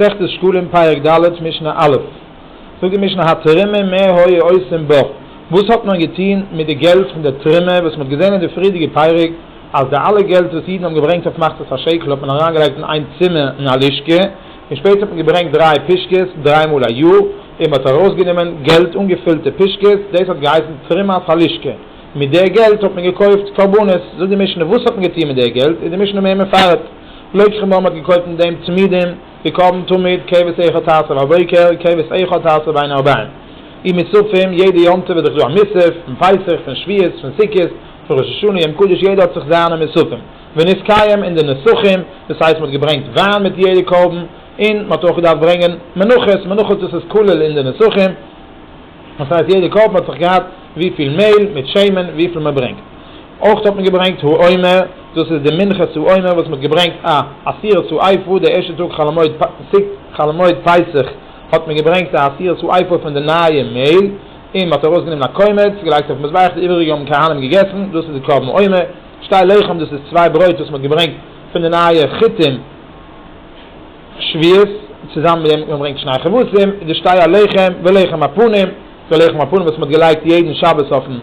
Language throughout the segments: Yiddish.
מסכת שקלים פרק ד' משנה א', זאגט די משנה התרומה מה היה עושים בה, וואס האט מען געטון מיט די געלט פון די תרומה, וואס מען האט געזען אין די פריערדיגע פרק אז די אלע געלט וואס אידן האבן געברענגט אויף מחצית השקל האט מען אריינגעלייגט אין איין צימער אין א לשכה, און שפעטער האט מען געברענגט דריי פושקעס דריי מאל א יאר, און מען האט ארויסגענומען געלט אנגעפילטע פושקעס, דאס האט געהייסן תרומת הלשכה, מיט די געלט האט מען געקויפט קרבנות, זאגט די משנה וואס האט מען געטון מיט די געלט, איז די משנה מער מפרט. לויט שכם וואו מען האט געקויפט אין דעם צמידים די קרבן תמיד כבש איכה תעשה בבוקר כבש איכה תעשה בין ארבעים אי מוספים יעדע יום טוב איז דאך דא א מוסף פון פסח פון שביעות פון סוכות פון ראש השנה יום קדוש יעדע האט זיך זיינע מוספים ונתקיים אין די נוסחים דאס הייסט מען האט געברענגט וויין מיט יעדע קרבן און מען האט אויך געדארפט ברענגען מנחות מנחות דאס איז כולל אין די נוסחים. דאס הייסט יעדע קאפ האט זיך געהאט וויפיל מעהל מיט שמן וויפיל מען ברענגט. אויך האט מען געברענגט העומר, דאס איז די מנחה צו עומר וואס מען האט געברענגט א עשירית צו עיפו, די ערשטע טאג חול המועד פסח חול המועד פסח האט מען געברענגט א עשירית צו עיפו פון די נייע מעהל, און מען האט ארויס גענומען א קומץ געלייגט אויפן מזבח די איבעריגע האבן כהנים געגעסן, דאס איז די קרבן עומר. שתי לחם דאס איז צוויי ברויט וואס מען האט געברענגט פון די נייע חיטים. שביעית, צוזאמען מיט דעם וואס מען ברענגט שני כבשים, איז די שטיי א לחם, ולחם הפנים, די לחם הפנים וואס מען האט געלייגט יעדן שבת אויפן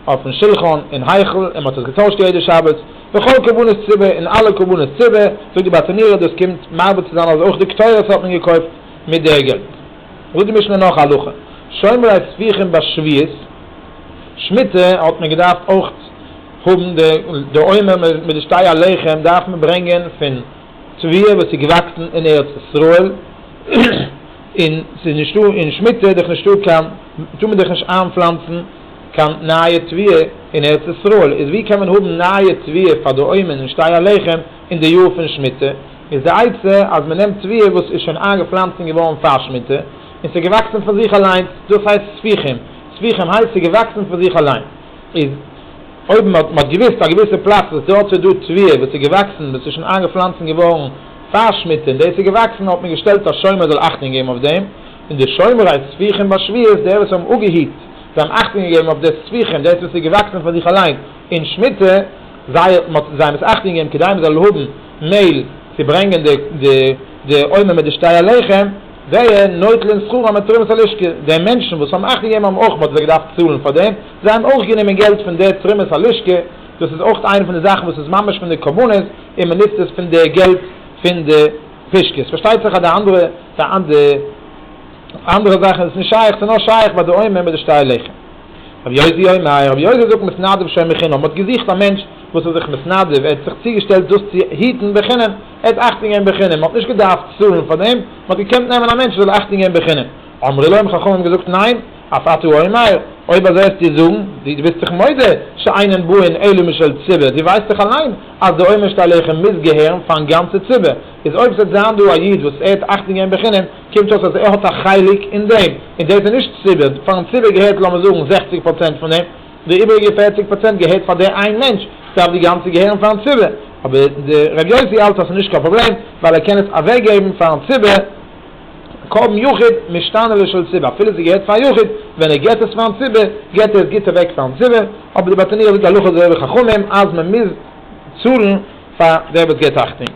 אויפן שולחן אין היכל, און מען האט עס געטוישט יעדע שבת, וכל קרבנות ציבור, און אלע קרבנות ציבור, זאגט די בת ענירה, דאס קומט מסביר צו זיין אז אויך די קטורת האט מען געקויפט מיט די געלט. זאגט די משנה נאך א הלכה, שומרי ספיחים ביי שביעית, שמיטה, האט מען געדארפט אויך האבן די עומר מיט די שטיי א לחם דארף מען ברענגען פון. צביה וואס איז געוואקסן אין ארץ ישראל, און ס'איז נישטא און שמיטה איז דאך נישטא קיין, טאר מען דאך נישט איינפלאנצן קיין נייע צביה אין ארץ ישראל, איז ווי קען מען האבן נייע צביה פאר די אוימען און שטיי הלחם אין די יאר פון שמיטה, איז די עצה אז מען נעמט צביה וואס איז שוין איינגעפלאנצט און געווארן פאר שמיטה, און ס'איז געוואקסן פון זיך אליינס, דאס הייסט ספיחים, ספיחים הייסט ס'איז געוואקסן פון זיך אליין. איז אויב מען האט מען האט געוויסט א געוויסע פלאץ וואס דארט איז דא טביה וואס איז געוואקסן וואס איז שוין איינגעפלאנצן געווארן פאר שמיטה און דאס איז געוואקסן האט מען געשטעלט א שומר זאל אכטונג געבן אויף דעם און די שומרי ספיחים ביי שביעית די וואס האבן אפגעהיט זיי האבן אכטונג געגעבן אויף די ספיחים דאס וואס איז געוואקסן פאר זיך אליין אין שמיטה זיי האט מען זיי מוז אכטונג געבן כדי מען זאל האבן מעל צו ברענגען די די עונה מיט די שתי הלחם. זיי נוטלען שכרם מיט תרומת הלשכה, די מענטשן וואס האבן אכט געגעבן האבן אויך מ'האט געדארפט צאלן פאר דעם, זיי האבן אויך גענומען געלט פון די תרומת הלשכה, דאס איז אויך איינע פון די זאכן וואס איז ממש פון די קומונות און מ'נוצט עס פון די געלט פון די פושקעס, פארשטייט זיך אז די אנדערע די אנדערע זאכן איז עס נישט שייך, עס איז נאר שייך ביי די עומר מיט די שטר לחם. רבי יוסי אומר, רבי יוסי זאגט מתנדב שומר חינם, מ'האט געזוכט א מענטש וואס איז זיך מתנדב, ער האט זיך צוגעשטעלט דאס צו היטן בחינם, ער האט אכטונג געבן בחינם, מ'האט נישט געדארפט צאלן פאר דעם, מ'האט געקענט נעמען א מענטש וואס זאל אכטונג געבן בחינם. אמרו לו, האבן חכמים געזאגט, ניין, אף אתה אומר, אויב אזוי האסטו צו זאגן, דו ביסט דאך מודה, שאינן באין אלא משל ציבור, דו ווייסט דאך אליין אז די עומר שאתה עליכם מוז געהערן פאר'ן גאנצע ציבור, איז אויב ס'וועט זיין דא א איד וואס ער האט אכטונג געבן בחינם, קומט אויס אז ער האט א חלק אין דעם, און דאס איז נישט ציבור, פאר'ן ציבור געהערט לאמיר זאגן זעכציג פראצענט פון דעם. די איבעריגע פֿערציק פראצענט געהערט פאר דער איין מענטש, דארף די גאנצע געהערן פארן ציבור, אבער דער ר' יוסי האלט אז ס'איז נישט קיין פראבלעם, ווייל ער קען עס אוועקגעבן פארן ציבור, קרבן יחיד משתנה לשל ציבור, אפילו ס'געהערט פאר א יחיד, ווען ער גיבט עס פארן ציבור, גיבט ער עס גוט אוועק פארן ציבור, אבער די באטעניער זאגט הלכה אזוי ווי חכמים אז מ'מוז צאלן פאר דער וואס גיבט אכטונג.